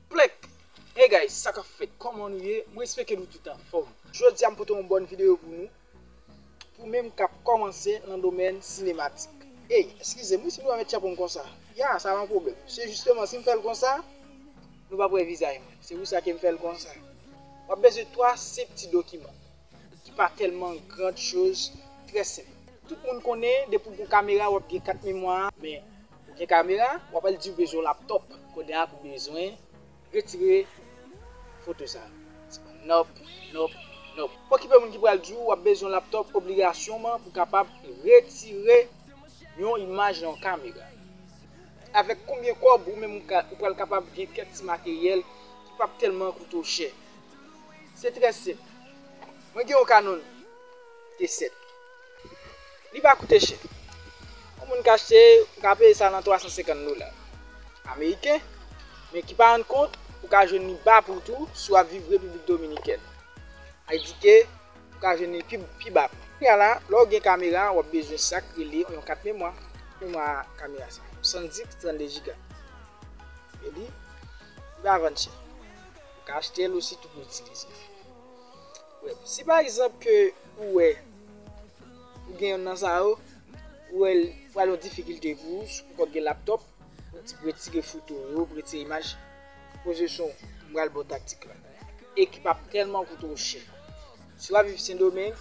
Plenk! Hey guys sa kap fèt kòman nou ye mwen espeke nou tout anfòm jodia m pote yon bòn video pou nou pou menm kap kòmanse nan domèn sinematik hey eskize m wi si nou pa mèt chapo m konsa ya sa pa yon pwoblèm se jisteman si m fèl konsa nou pap wè vizaj mwen se pou sa ke m fèl konsa wap bezwen 3 senp ti dokiman ki pa tèlman grand choz trè senp tout moun konnen depi w gon kamera wap gen kat memwa men Ou gen kamera, wap al diw bezwen yon laptop kounye a pou bezwen retire foto sa. Nop, nop, nop. Okipe moun ki pral diw wap bezwen yon laptop obligasyonman pou kapab retire yon imaj nan yon kamera. Avèk konbyen kòb ou menm ou pral kapab gen kèk ti materyèl ki pap tèlman koute w chè. Se trè senp. Mwen gen yon Canon T7. Li pa koute chè. Yon moun ka achte, ou ka peye sa nan 350 dola ameriken, men ki pa rann kont, ou ka jwenn li ba pri tou si w ap viv Repiblik Dominikèn. Ay di ke, ou ka jwenn li pi ba pri. Kounye a la, lè w gen kamera, w ap bezwen sa k rele yon kat memwa. Kat memwa kamera sa, yon SanDisk 32 jiga. E li, li pa vann chè. Ou ka achte l ositou pou itilize l. Si pa egzanp ke ou wè ou gen yonn nan sa yo, ou wè l pral yon difikilte pou ou, si ou poko gen laptop, pou retire foto w yo, pou retire imaj, poze sou m pral ba w taktik la. E ki pap tèlman koute w chè. Si wap viv sendomeng,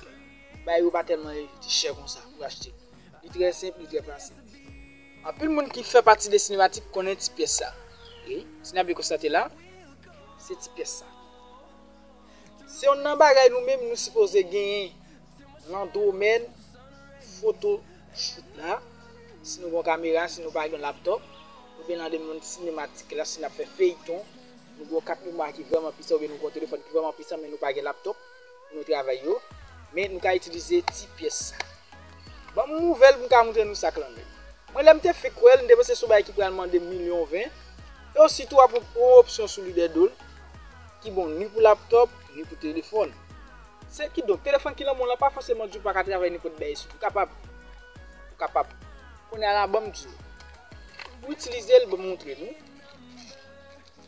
bagay yo pa tèlman rete chè konsa pou achte. Li trè senp, li trè fasil. Anpil moun ki fè pati de sinematik konnen ti pyès sa. E, si n ap byen konstate la, se ti pyès sa. Se yonn nan bagay nou menm nou sipoze genyen lan domèn foto shoot la, si nou gon kamera, si nou pa gen laptop, ou byen lan domèn sinematik la si nap fè feyton, nou gon kat memwa ki vrèman pisan ou byen nou gon telefòn ki vrèman pisan men nou pa gen laptop pou nou travay yo, men nou ka itilize ti pyès sa. Banm ouvèl pou m ka moutre nou sak lan menm. Mwen lèm te fenk wèl m te panse se yon bagay ki pral mande milyon ven, e ositou wap wè yon opsyon sou li dèdol, Ki bon ni pou laptop, ni pou telefòn. Se ki donk, telefòn ki nan men w la pa fòseman di w pa ka travay nenpòt bagay sou li. Ou kapab. Ou kapab. Kounye a la ban m di w. Pou itilize l, ban m montre nou.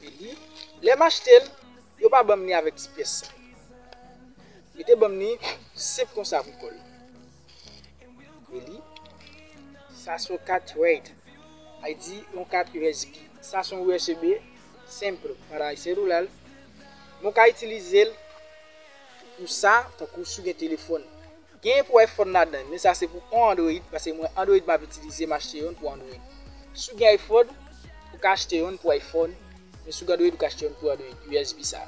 E li, lè m achte l, yo pa ban m li avèk ti pyès sa yo. Yo te ban m li senp konsa pou kò l. Eli, Sa s on kat RAID, ID, yon kat usb. Sa s on usb senpl paray selulal, men w ka itilize l pou sa tankou si w gen telefòn. Genyen pou iPhone ladan, men sa se pou on Android paske mwen Android m ap itilize, m achte yon pou Android. Si w gen iPhone, ou ka achte yon pou iPhone, men si w gen Android ou ka achte yon pou Android, usb sa.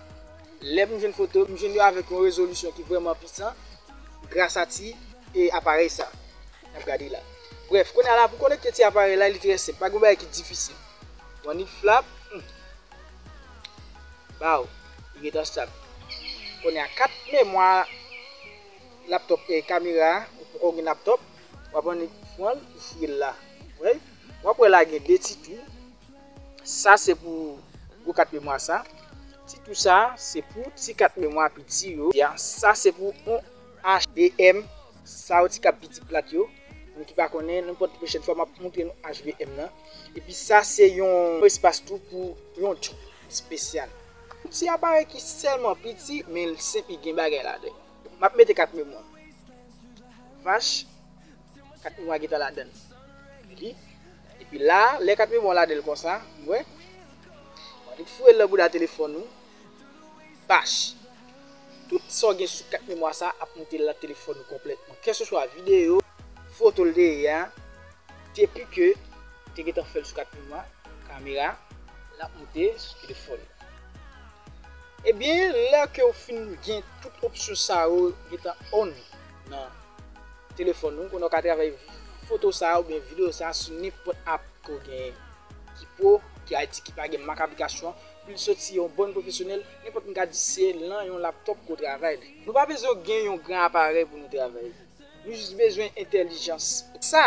Lè m jwenn foto yo, m jwenn yo avèk yon rezolisyon ki vrèman pisan gras a ti aparèy sa n ap gade la. Brèf, kounye a la pou konekte ti aparèy la li trè senp, pa gen bagay ki difisil. One hit flap, humm! Baww! Li gentan stab. Kounye a kat memwa laptop e kamera a, ou poko gen laptop, w ap annik pran l, ou fouye l la. Ou wè? W ap wè la gen 2 ti tou. Sa se pou gwo kat memwa sa. Ti tou sa se pou ti kat memwa piti yo. Sa se pou on hvm sa yo ti kap piti plat yo. Moun ki pa konnen, nenpòt pwochèn fwa map montre nou hvm nan. Epi sa se yon espas tou pou yon tchou espesyal. Ti aparèy ki sèlman piti men l senp li gen bagay ladan l. Map mete kat memwa. Vach. 4 mwa gentan ladan l epi epi la lè 4 mwa ladan l konsa ou wè wap vin foure l nan bouda telefòn ou bach tout sa w gen sou 4 mwa sa ap monte nan telefòn ou konplètman keseswa videyo foto l te ye a depi ke ou te gentan fè l sou 4 mwa kamera lap monte sou telefòn ou ebyen lè ke ou fin gen tout opsyon sa yo gentan on. nan telefòn ou, konnen w ka travay foto sa a oubyen videyo sa a sou nenpòt app ke w genyen ki pro, ki IT, ki pa gen mak aplikasyon an, pou l soti yon bon pwofesyonèl, nenpòt moun ka di se lan yon laptop ke w travay. Nou pa bezwen gen yon gran aparèy pou nou travay. Nou jis bezwen entèlijans. Sa!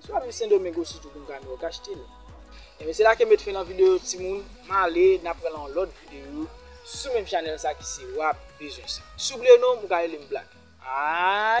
Si wap viv sendomeng osi tou punka nou ok achtel. Ebyen se la kem met fen nan video yo timoun male nap pran nan yon lot video sou menm chanel sa ki se wap bezwen sa. Siw bliye nonm ou ka relem black aah.